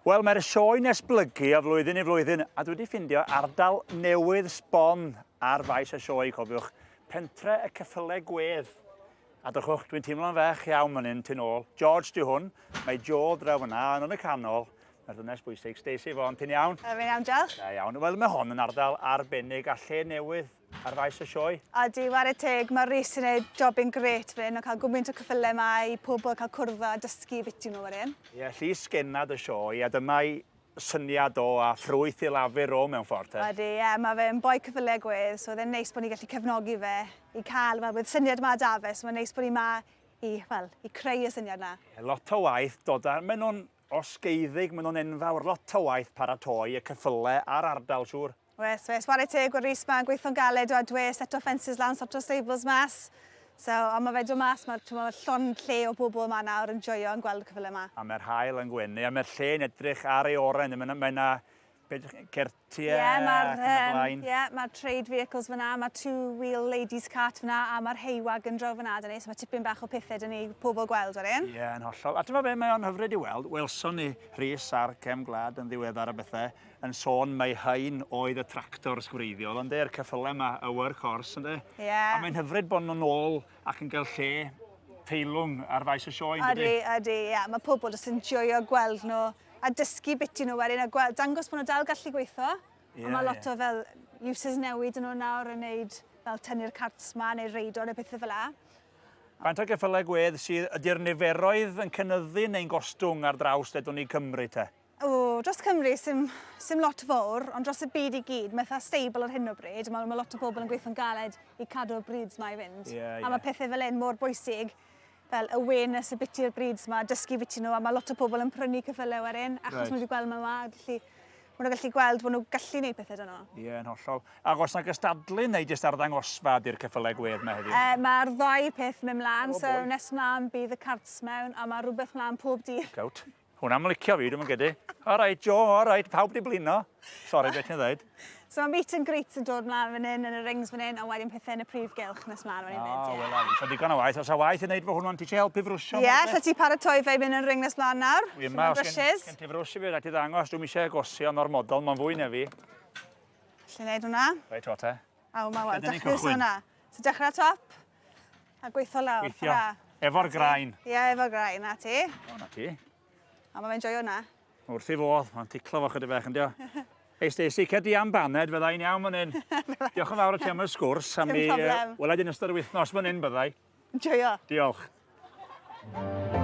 Wel, mae'r sioe'n esblygu o flwyddyn i flwyddyn, a dwi wedi ffindio ardal newydd sbon ar faes y sioe, cofiwch, pentre y ceffylau gwedd. A dychwch, dwi'n teimlo'n fech iawn fan hyn, ti'n ôl. George di hwn, mae Joel draw fyna, ond yn y canol, mae'r ddynes bwysig, Stacey Fon, ti'n iawn? Fi'n iawn, diolch. Da iawn. Wel, mae hon yn ardal arbennig a lle newydd Ar faes y sioe. Odi, ware teg, mae Rhys yn gwneud jobyn gret fan hyn o cael gwmynt o cyffylau yma i pobl cael cwrdd a dysgu biti nhw fan hyn. Ie, llys genad y sioe a dyma'i syniad o a ffrwyth i lafur o mewn ffordd te. Odi, ie, mae fe'n boi cyffylau gwedd, so oedd e'n neis bod ni'n gallu cefnogi fe i cael, wel, bydd syniad yma 'da fe, so mae'n neis bod ni 'ma i, wel, i creu y syniad 'na. Ie, lot o waith dod â, maen nhw'n osgeiddig, maen nhw'n enfawr, lot o waith paratoi y cyffylau a'r ardal, siŵr. Wes, wes, ware teg o Rhys, mae'n gweithio'n galed o a dwe set o ffensys lan, sort o stables mas. So, ond mae fe dod mas, mae llon lle o bobl yma nawr yn joio yn gweld y cyfle yma. A mae'r hael yn gwenu, a mae'r lle yn edrych ar ei oren, mae yna, mae yna certiau yeah, ac yn y blaen. Ie, yeah, mae'r trade vehicles fyna, mae two-wheel ladies cart fyna, a mae'r haywag yn draw fyna, dyn ni, so mae tipyn bach o pethau dyn ni pobl gweld o'r un. Ie, yeah, yn hollol. A ti'n meddwl be, mae o'n hyfryd i weld, welson ni Rhys ar Cem Glad yn ddiweddar a bethau, yn sôn mai hyn oedd y tractors gwreiddiol ynde, yr ceffylau yma, y workhorse ynde? Ie. Yeah. A mae'n hyfryd bod nhw'n ôl ac yn cael lle teilwng ar faes y sioe yndydi? Ydy, ydy, ie. Yeah. Mae pobl jyst yn joio gweld nhw a dysgu bit i nhw wedyn a gweld, dangos bod nhw dal gallu gweithio. Yeah, a mae lot yeah. o fel uses newid yn nhw nawr yn neud fel tynnu'r carts ma neu reido neu pethau fel la. Faint o geffylau gwedd sydd ydy'r niferoedd yn cynnyddu neu'n gostwng ar draws ledwn ni Cymru te? O, dros Cymru, sy'n sim lot fawr, ond dros y byd i gyd, mae eitha stable ar hyn o bryd, mae, mae lot o bobl yn gweithio'n galed i cadw'r brids mae i fynd. Yeah, yeah. A mae pethau fel un mor bwysig, fel awareness y biti'r brids mae, dysgu biti nhw, a mae lot o pobl yn prynu cyffylau ar un, achos right. mae wedi gweld mae'n ma, felly maen nhw'n gallu gweld bod nhw'n gallu gwneud pethau dyn nhw. Ie, yn hollol. A os yna gystadlu neu jyst arddangosfa di'r cyffylau gwedd mae heddiw? Uh, Mae'r ddau peth mewn mlaen, oh, so nes mlaen bydd y carts mewn, a mae rhywbeth mlaen pob dydd. Gout. Hwnna am licio fi, dwi'm yn credu. Alright Jo, alright, pawb di blino. Sori beth ti'n ddweud. So mae meet and greet yn dod mlaen fan hyn yn y rings fan hyn a wedyn pethau yn y prif gylch nes mlaen fan hyn fyd. O, wel, so digon o waith. Os a waith i wneud fo hwnnw, ti eisiau helpu frwsio? Ie, lle ti paratoi fe i fynd yn ring nes mlaen nawr? Wi yma, os gen ti frwsio fi, rhaid ti ddangos, dwi'n eisiau gosio o'r model, mae'n fwy na fi. Lle wneud hwnna? Reit, o te. Aw, mae wel, dechrau hwnna. So dechrau top. A gweithio lawr. Gweithio. Efo'r grain. Ie, efo'r grain. Na ti. O, na ti. A mae'n joio na. Wrth i fodd. Mae'n ticlo fo chyda fech, yndio? Ei, Stacey, cedi am baned, fydda i'n iawn fan hyn. Diolch yn fawr o ti am y sgwrs. Am mi, uh, wela di'n ystod y wythnos fan hyn, byddai. Joio. Diolch. Diolch.